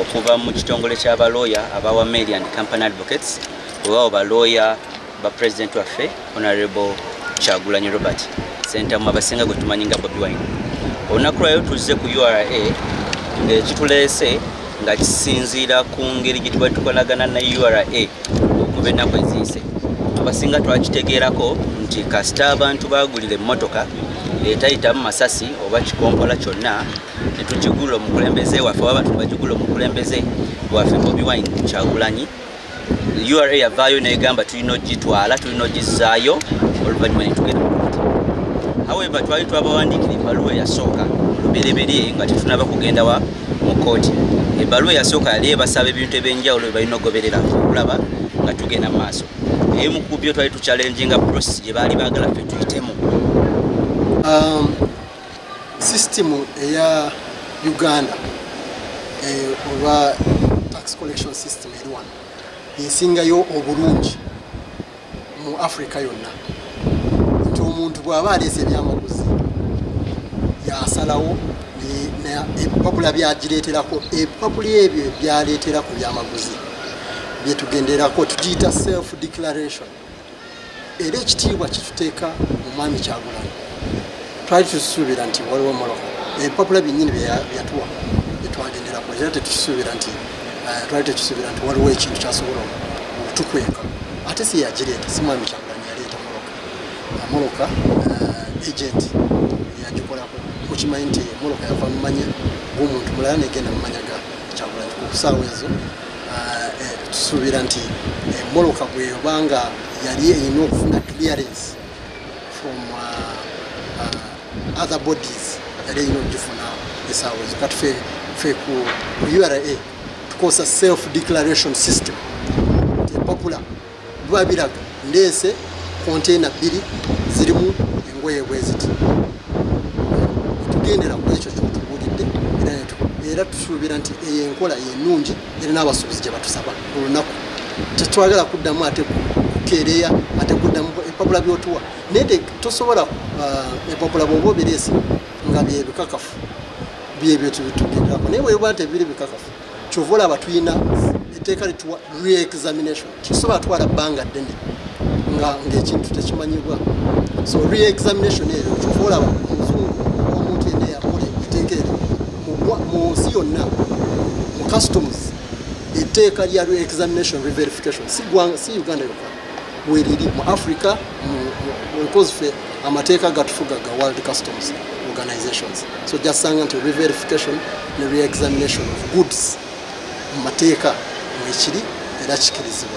okuva mu kitongole kya balooya aba wameli and company advocates webawo balooya ba president waffe honorable kyagulanyi robert sentamu abasinga gwe tumanyi nga bobi wine olunaku lwayo tuzze ku ura ngaekituleese nga kisinziira ku ngeri gye tubali tukolagana na ura okuba ennaku eziise abasinga twakitegeerako nti kasita abantu bagulira emmotoka etayitamu masasi oba kikompola kyonna tetujugula omukulembeze waffe oba bantu bajugula omukulembeze waffe bobi wine kyagulanyi ura yavaayo negamba tulina ogitwala tulina ogizaayo oluvanyuma netugenda mukuti however twali twabawandikira ebaluwa eyasooka lubereberye nga tetunaba kugenda wa mu kooti ebaluwa eyasooka yali ebasaba ebintu ebyenjawulo bebalina ogoberera okulaba nga tugenda maaso naye mukubyo twali tukyalenjinga process gyebaali bagala fe tuyitemu um, sisitimu eya uganda eh, oba tax collection system eri wano esingayo obulungi mu africa yonna nti omuntu bw'aba aleese ebyamaguzi yasalawo ebipapula byagireeterako ebipapula ebyo byaleetera ku byamaguzi byetugenderako tugiyita self declaration era ekitiibwa kituteeka mu mwami kyagulanyi twali tusuubira nti waliwo moloka ebipapula byennyini byeyatuwa byetwagenderako era tetusuubira nti eh, twali tetusuubira nti waliwo ekintu kyasobola okutukweka ate si yagireeta si mwami kyagulanyi yaleeta moloka moloka eh, agenti yagikolako mukimanyi nti moloka yava mumanya gomuntu mulala negenda mumanya ga kyagulanyi ku kusaawa ezo tusuubira nti emoloka eh, bweyobanga yali erina okufuna clearance from uh, uh, other bodies yali erina okugifuna esaawa ezo katufe fe ku ura tukozesa self declaration system tepapula bwabiraga ndeese konteyina bbiri zirimu engoye bweziti tugendera ku ekyo kyotubuulidde era tusuubira nti eyo enkola yenungi era n'abasuubuzi gye batusaba olunaku tetwagala kuddamu ate kukeereya ate kuddamu epapula byotuwa naye tosobola uh, epapula bwoba obireese nga byebikakafu byebyo tubitugenderako naye bwebwa tebiri bikakafu kyova olaba tulina etteeka lituwa reexamination kisobola twala bbanga ddene nga ngaekintu tekimanyibwa so reexamination eyo kyova olaba omuzungu omuntu yena yakola etteeka eryo mu nsi yonna mu customs etteeka lya reexamination reverification si uganda yokka weriri mu africa nkozfe amateeka gatufuga ga world customs organizations so jasanga nti reverification ne reexamination of goods mu mateeka mwekiri era kikirizibwa